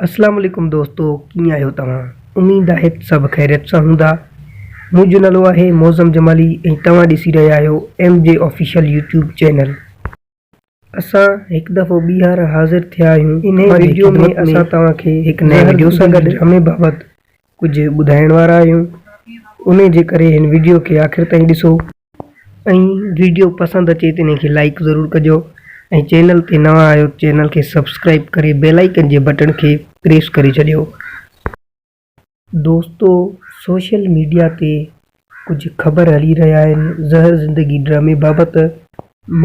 اسلام عليڪم دوستو ڪيئن آهيو توهان اميد آهي ته سڀ خيريت سان هوندا منهنجو نالو آهي معظم جمالي ۽ توهان ڏسي رهيا آهيو M G official YouTube channel اسان هڪ دفعو ٻيهر حاضر ٿيا آهيون انهي ويڊيو ۾ اسان توهان کي هڪ نئين ويڊيو سان گڏ ڊرامي بابت ڪجهه ٻڌائڻ وارا آهيون انهي جي ڪري هن ويڊيو کي آخر تائين ڏسو. ۽ ويڊيو پسند اچي ته انهي کي لائيڪ ضرور ڪجو ۽ چينل تي نوان آهيو ته چينل کي سبسڪرائيب ڪري بيل آئيڪن جي بٽڻ کي پريس ڪري ڇڏيو. دوستو سوشل ميڊيا تي ڪجهه خبر هلي رهيا آهن زهر زندگي ڊرامي بابت،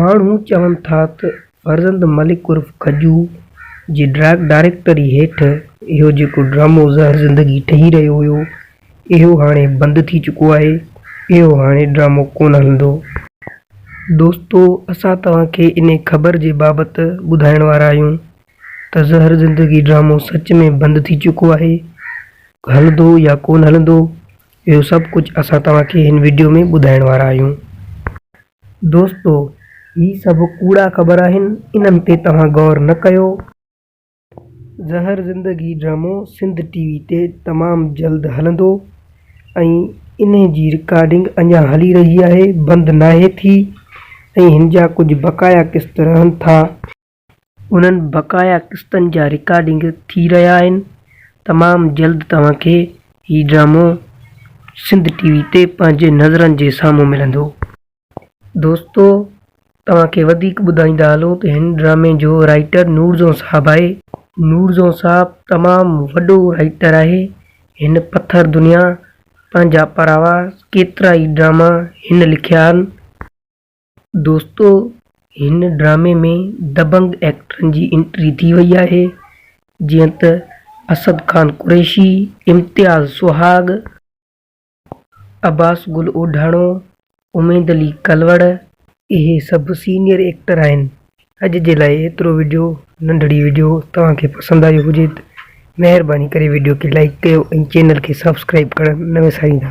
ماڻهو چون ٿا ته فرزند ملڪ عرف کجو جي ڊاريڪٽري هيٺ اهو جيڪو ڊرامو زهر زندگي ٺهي رهيو هيو اهو هاڻي بند ٿي چڪو آهي. اهو هاڻي ڊرامو ڪونه هلندو. دوستو اسان توهان کي انهي خبر جي بابت ٻڌائڻ وارا آهيون ته زهر زندگي ڊرامو سچ ۾ بند ٿي چڪو آهي. هلندو يا ڪونه هلندو اهو سڀ ڪجهه اسان توهان کي هن وڊيو ۾ ٻڌائڻ وارا آهيون. دوستو هي سڀ ڪوڙا خبر آهن انهن تي توهان غور نه ڪيو. زهر زندگي ڊرامو سنڌ ٽي وي تي تمام جلد هلندو ۽ انهي جي رڪارڊنگ اڃا هلي رهي آهي بند ناهي ٿي ۽ هن جا ڪجهه بقايا قسط رهن ٿا. انهن بقايا قسطن جا رڪارڊنگ ٿي رهيا آهن تمام جلد توهان کي هي ڊرامو سنڌ ٽي وي تي پنهنجي نظرن جي سامهون ملندو. دوستو توهان کي وڌيڪ ٻڌائيندا هلون ته هن ڊرامي جو رائٽر نور جون صاحب آهي نور جون صاحب تمام وڏو رائٽر آهي هن پٿر دنيا پنهنجا پراوا ڪيترا ئي ڊراما هن لکيا آهن دوستو هن ڊرامي ۾ دبنگ ايڪٽرن جي انٽري ٿي وئي آهي جيئن ته اسد خان قريشي امتياز سهاڳ. عباس گل اوڍاڻو، اميد علي ڪلوڙ اهي سڀ سينيئر ايڪٽر آهن. اڄ جي لاء ايترو وڊيو ننڍڙي وڊيو توهان کي پسند آيو هجي ته مهرباني ڪري وڊيو کي لائيڪ ڪيو ۽ چينل کي سبسڪرائيب ڪرڻ نه وساريندا.